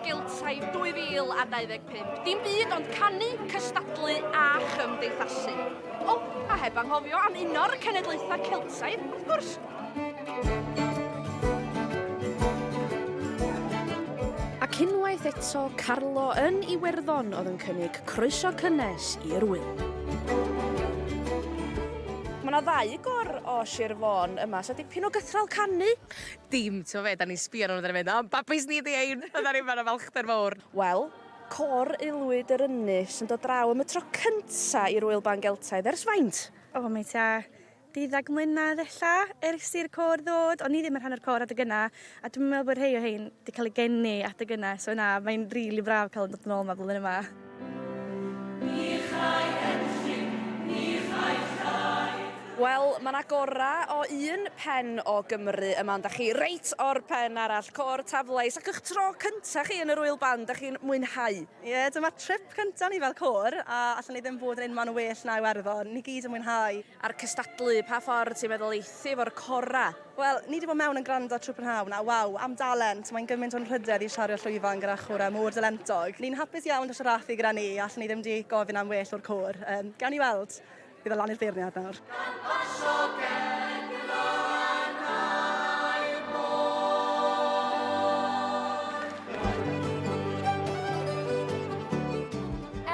Giltai 2025. Dim byd ond canu, cystadlu a chymdeithasu. O, a heb anghofio am un o'r cenedlaethau Celtaidd, wrth gwrs. Ac unwaith eto, Carlo yn Iwerddon oedd yn cynnig croeso cynnes i'r ŵyl. Mae yna ddau gor o Sir Fôn yma, so dipyn o gythral canu. Dim, ti'n fe, da ni'n sbio nhw'n ddyn mynd, o, babis ni di ein, a da ni'n fan o falchder fawr. Wel, cor aelwyd yr ynys yn dod draw am y tro cynta i'r Ŵyl Ban Geltaidd ers faint? O, mae ta deuddag mlynedd ella ers i'r cor ddod. O'n i ddim yn rhan o'r cor adeg yna, a dwi'n meddwl bod rhai o hein wedi cael ei geni adeg yna, so na, mae'n rili really braf cael yn dod yn ôl yma flwyddyn yma. Wel, mae 'na gorau o un pen o Gymru yma, ond 'da chi reit o'r pen arall, Côr Taflais, ac y'ch tro cynta' chi yn yr Ŵyl Ban, 'da chi'n mwynhau? Ie, dyma'r trip cynta' ni fel côr, a allen i ddim bod yn unman well na Iwerddon, ni gyd yn mwynhau. A'r cystadlu, pa ffordd ti'n meddwl eith ti 'fo'r corau? Wel, ni di bod mewn yn gwrando trwy prynhawn, a waw, am dalent, mae'n gymaint o'n rhydedd i shario llwyfan gyda chwarae mor dalentog. Ni'n hapus iawn da siarathu gyda ni, allwn ni ddim di gofyn am well o'r côr. Yym, gawn ni weld. Bydd o lan i'r beirniad nawr. Gan basio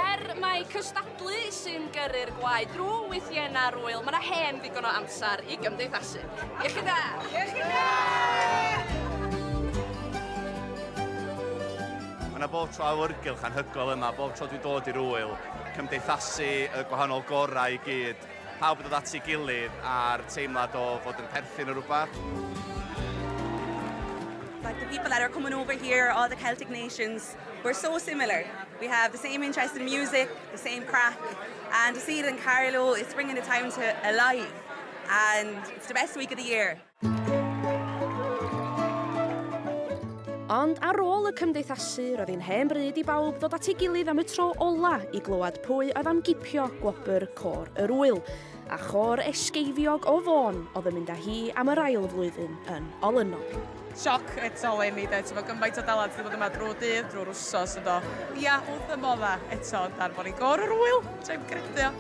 Er mai cystadlu sy'n gyrru'r gwaed drwy wythiennau'r ŵyl, mae yna hen ddigon o amser i gymdeithasu. Iechyd da! Iechyd da! Mae yna bob tro awyrgylch anhygoel yma, bob tro dwi'n dod i'r ŵyl, cymdeithasu y gwahanol gorau i gyd, pawb yn dod at ei gilydd a'r teimlad o fod yn perthyn o rhywbeth. like the people that are coming over here, all the Celtic nations, we're so similar. We have the same interest in music, the same crack, and to see it in Carlow, it's bringing the town to alive. And it's the best week of the year. Ond ar ôl y cymdeithasu, roedd hi'n hen bryd i bawb ddod at ei gilydd am y tro ola i glywed pwy oedd am gipio gwobr Côr yr Ŵyl. A chôr esgeifiog o Fôn oedd yn mynd â hi am yr ail flwyddyn yn olynol. Sioc eto le mi de, t'mo' gymaint o dalent wedi bod yma drwy'r dydd, drwy'r wsos yn do. Ia, wrth fy modda eto yn darfon i gor yr ŵyl, joi'n credu o.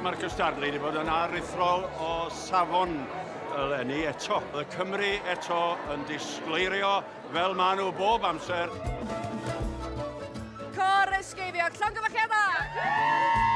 Marcus Darnley 'di bod yn aruthrol o safon eleni eto. Bydd Cymru eto yn disgleirio Fel maen nhw bob amser. Cor ysgeifio, llongyfarchiadau!